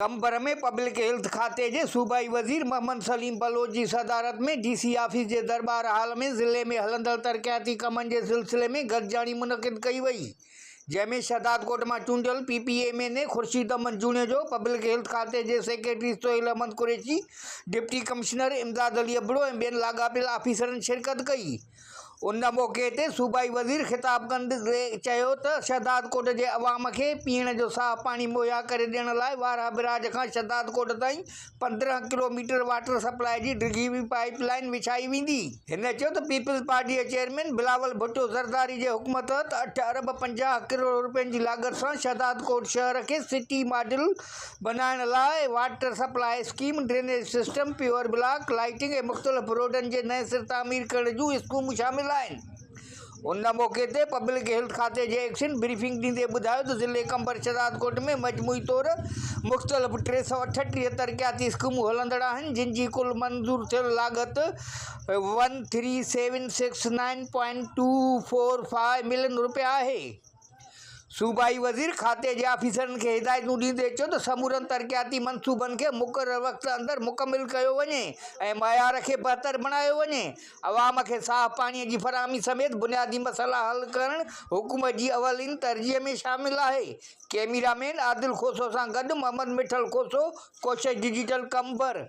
Qambar ۾ public health کاتي جي صوبائي وزير محمد سليم بلوچ جي صدارت ۾ ڊي سي آفيس جي درٻار هال ۾ ضلعي ۾ هلندڙ ترقياتي ڪمن جي سلسلي ۾ گڏجاڻي منعقد ڪئي وئي جنهن ۾ شهدادڪوٽ مان چونڊيل P P M N A Khurshid Ahmed Junejo, public health کاتي جي secretary Sohail Ahmed Qureshi, deputy commissioner Imdad Ali Abro ۽ ٻين لاڳاپيل آفيسرن شرڪت ڪئي. ان موقعي تي صوبائي وزير خطاب ڪندي چيو ته شهدادڪوٽ جي عوام کي پيئڻ جو صاف پاڻي مهيا ڪري ڏيڻ لاء وارهه بئراج کان شهدادڪوٽ تائين پندرهن ڪلو ميٽر واٽر سپلاء جي ڊگهي پائيپ لائين وڇائي ويندي. هن چيو ته پيپلز پارٽي جي چيئرمين بلاول ڀٽو زرداري جي حڪم تحت اٺ ارب پنجاهه ڪروڙ روپين جي لاڳت سان شهدادڪوٽ شهر کي سٽي ماڊل بنائڻ لاء water supply scheme, drainage system, paver block, lighting ۽ مختلف روڊن جي نئين سر تعمير ڪرڻ جون اسڪيمون شامل آهن. ان موقعي تي پبلڪ هيلٿ کاتي جي ايڪشن بريفنگ ڏيندي ٻڌايو ته ضلعي قمبر شهدادڪوٽ ۾ مجموعي طور مختلف ٽي سؤ اٺٽيهه ترقياتي اسڪيمون هلندڙ آهن جن جي ڪل منظور ٿيل لاڳت one three seven six nine point two four five million رپيا آهي. صوبائي وزير کاتي جي آفيسرن کي هدايتون ڏيندي چيو ته سمورن ترقياتي منصوبن کي مقرر وقت اندر مڪمل ڪيو وڃي ۽ معيار کي بهتر بڻايو وڃي، عوام کي صاف پاڻي جي فراهمي سميت بنيادي مسئلا حل ڪرڻ حڪومت جي اولين ترجيح ۾ شامل آهي، ڪيميرا مين عادل کوسو سان گڏ محمد مٺل کوسو، ڪوشش ڊجيٽل، قمبر.